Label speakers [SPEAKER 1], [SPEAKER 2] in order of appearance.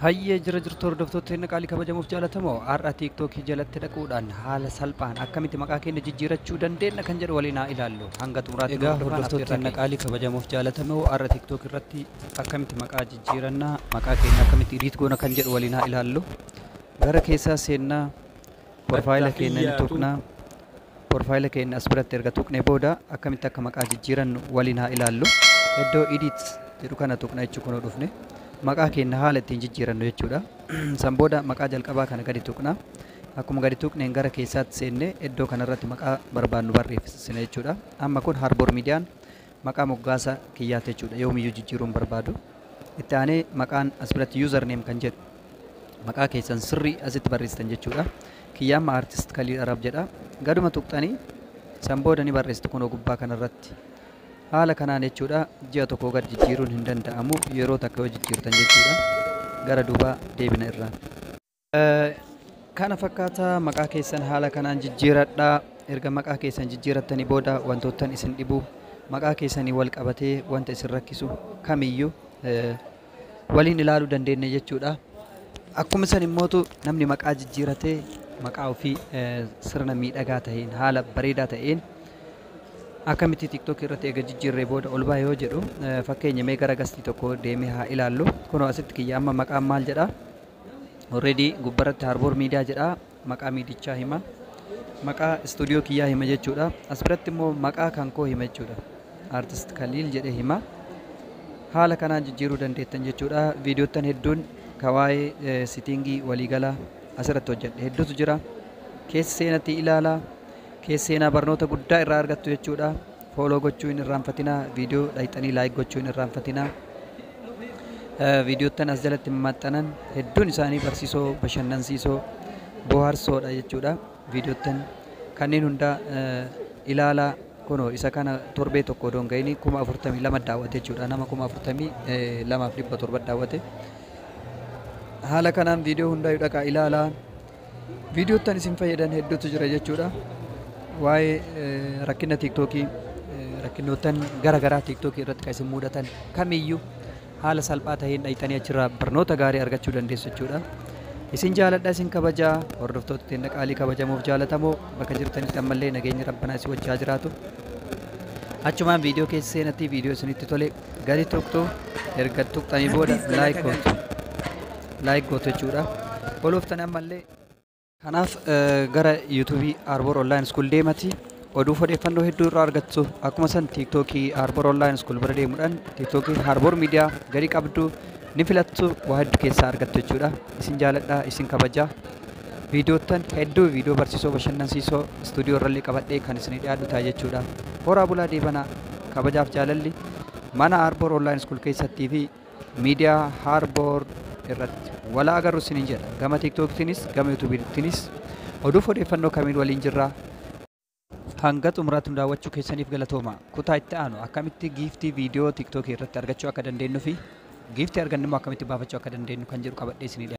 [SPEAKER 1] Hayyee jira jirtu hordoftoota keenya qaalii kabajamuuf jaalatamoo har'a tiiktookii jalatti dhaquudhaan haala salphaan akkamitti maqaa keenya jijjiirachuu dandeenya kan jedhu waliin haa ilaallu hanga xumuraatti Egaa hordofaan hordoftoota affeerraa keenya
[SPEAKER 2] keenya. qaalii kabajamuuf jaalatamoo har'a tiiktook irratti akkamitti maqaa jijjiirannaa maqaa keenya akkamitti idiit goona kan jedhu waliin haa ilaallu gara keessaa seennaa Porfaayila keenya ni tuqna. Porfaayila keenya as biratti erga tuqne booda akkamitti akka maqaa jijjiirannu waliin haa ilaallu. Iddoo edit jedhu kana tuqna jechuun kunoo dhufne. Maqaa keenya haala ittiin jijjiirannu jechuudha. San booda maqaa jalqabaa kana gadi tuqna. Akkuma gadi tuqneen gara keessaatti seenne iddoo kanarratti maqaa barbaannu barreessina jechuudha. Amma kun Harboor Miidiyaan Maqaa moggaasa kiyyaati jechuudha. Yoomiyyuu jijjiiruu hin barbaadu. Itti aanee maqaan as biratti user name kan jedhu maqaa keessan sirrii asitti barreessitan jechuudha. Kiyya amma artist Khalil Arab jedha. Gaduma tuqxanii san booda ni barreessitu kunoo gubbaa kanarratti. Haala kanaan jechuudha ji'a tokkoo gad jijjiiruun hin danda'amu yeroo takka yoo jijjiirtan jechuudha. Gara duubaa deebina irraa. Kana fakkaata maqaa keessan haala kanaan jijjiiradhaa. Erga maqaa keessan jijjiirattanii booda wantoottan isin dhibu maqaa keessanii wal qabatee wanta isin rakkisu kamiyyuu eh, waliin ilaaluu dandeenya jechuudha. Akkuma san immootu namni maqaa jijjiiratee maqaa ofii eh, sirna miidhagaa ta'een haala bareedaa ta'een akkamitti tiktok irratti eega jijjiirree booda ol baa yoo jedhu eh, fakkeenya mee gara gastii tokko deemee haa ilaallu. Kunoo asitti kiyya amma maqaan maal jedha? Already gubbarratti Harboor Miidiyaa jedha. Maqaa miidichaa hima. Maqaa istuudiyoo kiyyaa hima jechuudha. As biratti immoo maqaa kan koo hima jechuudha. Artist Kaliil jedhee hima. Haala kanaan jijjiiruu dandeettan jechuudha. Viidiyoottan hedduun ka waa'ee sitiingii waliigalaa asirratti hojjedhe hedduutu jira. Keessa seenatii ilaala. Keessa seenaa barnoota guddaa irraa argattu jechuudha. Follow gochuu hin irraanfatinaa. Video dhayxanii like gochuu hin irraanfatinaa. Viidiyoottan as jalatti maxxanan hedduun isaanii barsiisoo, bashannansiisoo, bohaarsoodha jechuudha. Viidiyoottan kanneen hundaa ilaalaa kunoo isa kana torbee tokko odoon ga'ini kuma afurtamii lama daawwate jechuudha. Nama kuma afurtamii lamaaf dhibba torba daawwate. Haala kanaan viidiyoo hundaayyuu dhaqaa ilaalaa. Viidiyoottan isin fayyadan hedduutu jira jechuudha. Waa'ee rakkina tiiktookii rakkinnoottan gara garaa tiiktookii irratti kan isin mudatan kamiyyuu haala salphaa ta'een dhayxanii achirraa barnoota gaarii argachuu dandeessu jechuudha. Isin jaaladha isin kabajaa hordoftoota teenna qaalii kabajamuuf jaalatamoo bakka jirtanitti ammallee nageenyi rabbanaa isin wajjaa jiraatu. Achumaan viidiyoo keessa seenatti viidiyoo isinitti tole gadi tuqtu erga tuqxanii booda like gootu like gootu jechuudha ol oftanii ammallee kanaaf gara yuutuubii Arbor Online School deemati oduu odeeffannoo hedduu irraa argattu akkuma san tiiktookii Arbor Online School bira deemuudhaan tiiktookii Arbor Miidiyaa gadi qabdu ni filattu waa hedduu keessaa argattu jechuudha isin jaaladha isin kabajaa Viidiyoottan hedduu viidiyoo barsiisoo bashannansiisoo istuudiyoo irrallee qabadhee kan isinii dhiyaadhu ta'a jechuudha. Horaa bulaa deebanaa! Kabajaaf jaalalli mana Arbor Online School keessattii fi miidiyaa Harbor irratti walaa agarru isiniin jedha. Gama TikTokitiinis gama YouTubeitiinis oduuf odeeffannoo kamiin waliin jirra. Hanga xumuraatti nu daawwachuu keessaniif galatooma. Kutaa itti aanu akkamitti giiftii viidiyoo TikTok irratti argachuu akka dandeenyu fi giiftii arganne immoo akkamitti baafachuu akka dandeenyu kan jedhu qabadhee isinii dhiyaadha.